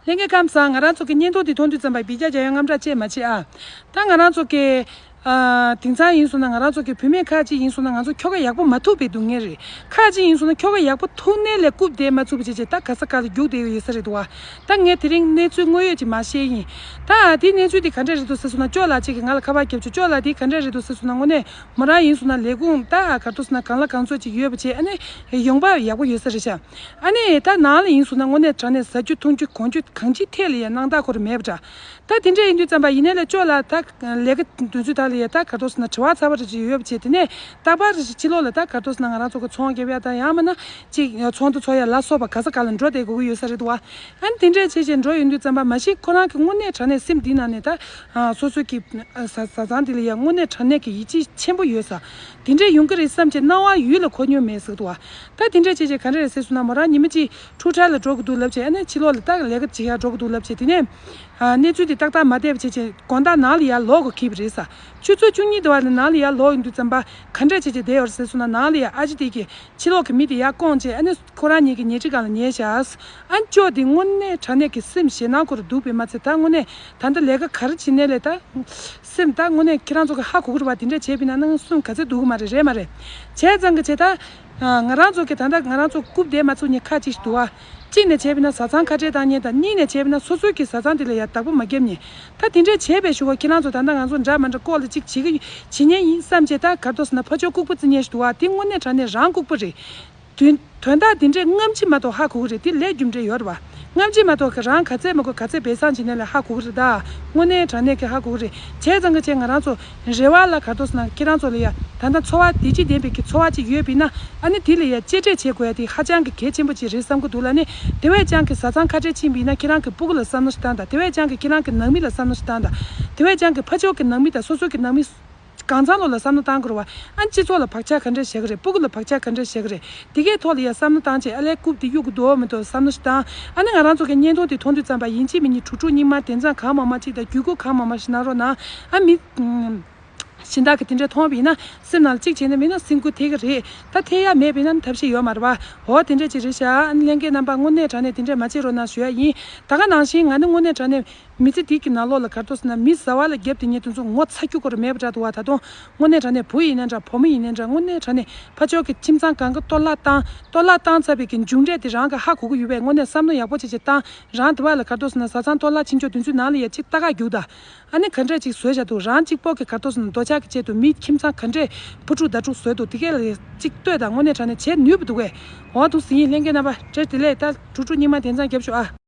ལྷན་རྒྱས་ཁམས་བཟང་ང་རང་ཚོ་གི་བརྙན་ཐུང་འདི་མཐོང་དུས་ཙམ་པ་བི་རྒྱ་རྒྱ་ཡོད་རྔམ་སྐྲག་ཅེས་མ་བྱེད་ཨ། ད་ང་རང་ཚོ་གི། དེང་སང་ཡིན་སོང་ན་ང་རང་ཚོ་གི་བུད་མེད་ཁག་ཅིག་ཡིན་སོང་ན་ང་ཚོ་ཁྱོ་ག་ཡག་པོ་མ་ཐུག་པའི་སྡུག་བསྔལ་རེད་ཁག་ཅིག་ཡིན་སོང་ན་ཁྱོ་ག་ཡག་པོ་ཐུག་ནས་ལས་རྐུབ་དེད་མ་ཚུགས་པ་བྱས་བྱས་ད་ག་ས་ག་ལ་རྒྱུགས་བསྡད་ཡོད་ཡོད་ས་རེད་འདུག་བ། ད་ངས་དེ་རིང་གནས་ཚུལ་དངོས་ཡོད་ཅིག་མ་ཤེས་ཡིན། ད་ཨ་དེའི་གནས་ཚུལ་དེ་ག་འདྲ་རེད་འདུག་ཟེར་སོང་ན་ཅོག་ལགས་ཅིག་གིས་ང་ལ་ཁ་པར་བརྒྱབ་བྱུང་ཅོག་ལགས་དེ་ག་འདྲ་རེད་འདུག་ཟེར་སོང་ན་དངོས་གནས་མོ་རང་ཡིན་སོང་ན་ལས་ཁུངས་ད་ཨ་གར་ཐུག་སོང་ན་གང་ལ་གང་ཚོད་ཅིག་ཡོད་པ་བྱས་ཨ་ནི་ཡོང་འབབ་ཡག་པོ་ཡོད་ས་རེད་ཤག། ཨ་ནེ་ད་ནང་ལ་ཡིན་སོང་ན་དངོས་གནས་དྲ་ནས་ཟ་རྒྱུ་འཐུང་རྒྱུ་གོང་རྒྱུ་གང་ཅིའི་ཐད་ལ་ཡང་སྣང་དག་གོ་རེ་མེད་པ་འདྲ། ད་དེ་འདྲ་ཡིན་དུས་རྩམ་པ་ཡིན་ནའི་ལ་ཅོག་ལ་ད་ལས་ཀ་འདོན་ཚུལ་དག་ལ་ཡང་ད་གར་ཐོག་སོང་ན་དྲི་བ་ཚ་བ་རེ་ཅིག་ཡོད་པ་བྱས་དེ་ནས་ད་པར་རེ་ཞིག་ཕྱི་ལོག་ལ་ད་གར་ཐོག་སོང་ན་ང་རང་ཚོ་གི་ཚོང་རྒྱབ་ཡ་ད་ཡང་མ་ན་ཅིག་ཚོང་དུ་ཚོགས་ཡ་ལ་སོགས་པ་ག་ས་ག་ལ་འགྲོ་བསྡད་དགོས་ཀྱི་ཡོད་ས་རེད་དོ། ཨ་ནེ་དེ་འདྲ་བྱས་བྱས་འགྲོ་ཡོང་དུས་རྩམ་པ་མ་གཞི་ཁོ་རང་གི་དངོས་གནས་དྲ་ནས་སེམས་འདི་ནང་ནས་ད་སོ་སོ་གི་བཟའ་ཚང་འདི་ལ་ཡང་དངོས་གནས་དྲ་ནས་ཀྱི་ཡིད་ཆེས་ཆེན་པོ་ཡོད་ས་དེ་འདྲས་ཡོང་གི་རེད་བསམ་གྱི་སྣང་བ་ཡུལ་ལ་གོ་མྱོང་མེད་ཟེར་གི་འདུག་ད་དེ་འདྲས་བྱས་བྱས་ག་འདྲ་རེད་ཟེར་སོང་ན་མོ་རང་ཉི་མ་གཅིག་འཁྲུག་ཁྲལ་ལ་འགྲོ་གི་འདུག་ལབ་བྱས་ཨ་ནེ་ཕྱི་ལོག་ལ་ལྟ་གི་ལས་ཀ་ཇི་ཡག་འགྲོ་གི་འདུག་ལབ་བྱས་དེ་ནས། གནས་ཚུལ་དེ་ཏག་ཏག་མ་བལྟས་པ་བྱས་བྱས་དགོང་དག་ནང་ལ་ཡར་ལོག་གི་ཁེལ་བ་རེད་ས་བཅུ་ཚོ་བཅུ་གཉིས་དེ་བ་ལ་ནང་ལ་ཡར་ལོག་ཡོང་དུས་རྩམ་པ་ག་འདྲས་བྱས་བྱས་བསྡད་ཡོད་རེད་ཟེར་སོང་ན་ནང་ལ་ཡར་ཨ་ཅེ་དེ་གིས་ཕྱི་ལོག་གི་མི་དེ་ཡར་བསྐོངས་བྱས་ཨ་ནེ་ཁོ་རང་ཉིད་ཀྱི་ཉལ་ཁྲི་གང་ལ་ཉལ་བྱས་ཨཱས་ཨ་ཅོ་དེ་དངོས་གནས་དྲང་གནས་ཀྱི་སེམས་ཞེད་སྣང་ཁོ་རུ་འདུག་པས་མ་ཚད་ད་དངོས་གནས་ད་ལྟ་ལས་ཀ་ག་རེ་བྱེད་གནས་ལས་ད། སེམས་ད་དངོས་གནས་ཁྱེད་རང་ཚོ་གི་ཧ་གོ་གི་རེད་བ་དེ་འདྲ་བྱས་པས་ན་ནང་སུན་ག་ཚད་འདུག་གི་མ་རེད་རེད་མ་རེད་བྱས་ཙང་གི་བྱས་ད། ང་རང་ཚོ་གི་ད་ལྟ་ང་རང་ཚོ་རྐུབ་སྟེགས་མ་ཚུགས་ཉིན་ཁ་ཅིག་ཞིག་འདུག་བ། གཅིག་ནས་བྱས་པས་ན་བཟའ་ཚང་ཁ་བྲལ་བཏང་ཉིན་དང་གཉིས་ནས་བྱས་པས་ན་སོ་སོའི་གི་བཟའ་ཚང་དེ་ལ་ཡ་བདག་པོ་མ་བརྒྱབ་ཉིན། ད་དེ་འདྲས་བྱས་པས་ཞུ་བ་ཁྱེད་རང་ཚོ་ད་ལྟ་ང་ཚོ་འདྲ་མ་འདྲ་ལྐོག་ལ་ཅིག་བྱེད་གི་ཡོད་བྱེད་ཉེན་ཡིན་བསམ་བྱས་ད་གར་དོ་ཟེར་ན་ཕ་ཆོས་ལྐུགས་པ་རྩི་ཉེན་ཞིག་འདུག་བ་དེ་དངོས་གནས་དྲ་གནས་རང་ལྐུགས་པ་རེད། དོན་དག་འདི་འདྲས་རྔམ་བྱེད་མ་ཐོག་ཧ་གོ་གི་རེད་དེ་ལས་རྒྱུ་འབྲས་ཡོད་རེད་བ། རྔམ་བྱེད་མ་ཐོག་གི་རང་ག་ཚད་མ་གོ་ག་ཚད་བེད་སང་བྱེད་ནས་ལ་ཧ་གོ་གི་རེད་ད། དངོས་གནས་དྲང་གནས་ཀྱི་ཧ་གོ་གི་རེད་བྱས་ཙང་གི་བྱས་ང་རང་ཚོ་རེ་བ་ལ་གར་དོགས་སུ་ན་ཁྱེད་རང་ཚོ་ལ་ཡ་ད་ལྟ་འཚོ་བ་བདེ་སྐྱིད་ལྡན་པའི་གི་འཚོ་བ་ཅིག་ཡོད་པིན་ན་ཨ་ནི་དེ་ལ་ཡ་གཅེས་སྤྲས་བྱེད་དགོས་ཡ་དེ་ཧ་ཅང་གི་གལ་ཆེན་པོ་ཅིག་རེད་བསམ་གི་འདུག་ལ་ནི་དེ་བས་ཀྱང་གི་བཟའ་ཚང་ཁ་བྲལ་ཕྱིན་པིན་ན་ཁྱེད་རང་གི་སྤུ་གུ་ལ་བསམ་ན་ཞེ་སྡང་དང་དེ་བས་ཀྱང་གི་ཁྱེད་རང་གི་ནང་མི་ལ་བསམ་ན་ཞེ་སྡང་དང་དེ་བས་ཀྱང་གི་ཕ་ཕྱོགས་གི་ནང་མི་དང་སོ་སོ་གི་ནང་མི། གང་ཚང་ལོ་ལ་བསམ་བློ་བཏང་དགོས་རེད་བ། ཨ་ནི་སྤྱི་ཚོགས་ལ་བག་ཆགས་ག་འདྲ་བཞག་གི་རེད་སྤུ་གུ་ལ་བག་ཆགས་ག་འདྲ་བཞག་གི་རེད་དེ་གའི་ཐོག་ལ་ཡང་བསམ་བློ་བཏང་བྱས་ཨ་ལས་རྐུབ་དེ་གཡུག་གི་འདུག་འོ་མི་འདུག་བསམ་བློ་ཞིག་བཏང་ཨ་ནི་ང་རང་ཚོ་གའི་བརྙན་ཐུང་དེ་མཐོང་དུས་བརྩམས་པ་ཡིན་གཅིག་མི་གཉིས་དྲུག་དྲུག་སྙིགས་མ་དེ་མཚམས་གང་མང་མང་གཅིག་དང་རྒྱུད་སྐུད་གང་མང་མང་ཞིག་གནང་རོགས་གནང་ཨ་མི་གཞན་དག་གི་དེ་འདྲ་མཐོང་བ་པི་ཡིན་ན་སེམས་ནང་ལ་གཅིག་བྱས་ན་མིན་ན་སེམས་ཁུར་ཐེག་གི་རེད་ད་ཐེག་ཡ་མེད་པི་ཡིན་ན་ཐབས་ཤེས་ཡོད་མ་རེད་བ་འོ་དེ་འདྲ་ཅིག་རེད་ཤག་ཨ་ནི་ལྷན་སྐྱེས་རྣམ་པ་དངོས་གནས་དྲང་གནས་དེ་འདྲ་མ་བྱེད་རོགས་གནང་ཞུ་ཡ་ཡིན་ད་ག་ནང་བཞིན་ང་ནི་དངོས་གནས་དྲང་གནས། མི་ཚེ་དུས་ཀྱི་ནང་ལོགས་ལ་གར་ཐོག་ཟིན་ན་མི་བཟའ་བ་ལ་བརྒྱབ་སྟེ་ཉལ་དུ་འཛུགས་ངོ་ཚ་རྒྱུ་ཁོ་རུ་མེད་པ་འདྲ་འདུག་བ་ད་དུང་དངོས་གནས་དྲ་ནས་བུ་ཡིན་ན་འདྲ་བུ་མོ་ཡིན་ན་འདྲ་དངོས་གནས་དྲ་ནས་ཕ་ཅོག་གི་ཁྱིམ་ཚང་གང་གི་གཏོར་བརླག་བཏང་གཏོར་བརླག་བཏང་ཚར་བའི་གི་མཇུག་འབྲས་དེ་རང་གི་ཧ་གོ་གི་ཡོད་པས་དངོས་གནས་བསམ་མནོ་ཡག་པོ་བྱེད་བྱེད་བཏང་རང་དེ་བ་ལ་གར་ཐོག་ཟིན་ན་བཟའ་ཚང་གཏོར་བརླག་ཕྱིན་ཆོག་དུས་ཚོད་ནང་ལ་ཡ་གཅིག་རྟ་ཁ་རྒྱུག་ད་ཨ་ནི་ག་འདྲས་ཅིག་བཟོས་བཞག་འདུག་རང་གཅིག་པོ་གི་གར་ཐོག་ཟིན་ན་འདོད་ཆགས་ཀྱི་ཆེད་དུ་མིའི་ཁྱིམ་ཚང་ག་འདྲས་བུ་ཕྲུག་ཟླ་དྲུག་བཟོས་འདུག་དེ་སྐད་ལ་ཡ་གཅིག་ལྟོས་དང་དངོས་གནས་དྲ་ནས་བྱེད་ནུས་པ་འདུག་བས་འོང་དུ་ཟིན་ཡིན་ལྷན་རྒྱས་རྣམ་པ་དྲེར་དེ་ལས་ད་དྲུག་དྲུག་སྙིགས་མ་དེ་ཚང་བརྒྱབ་ཤོག་ཨ།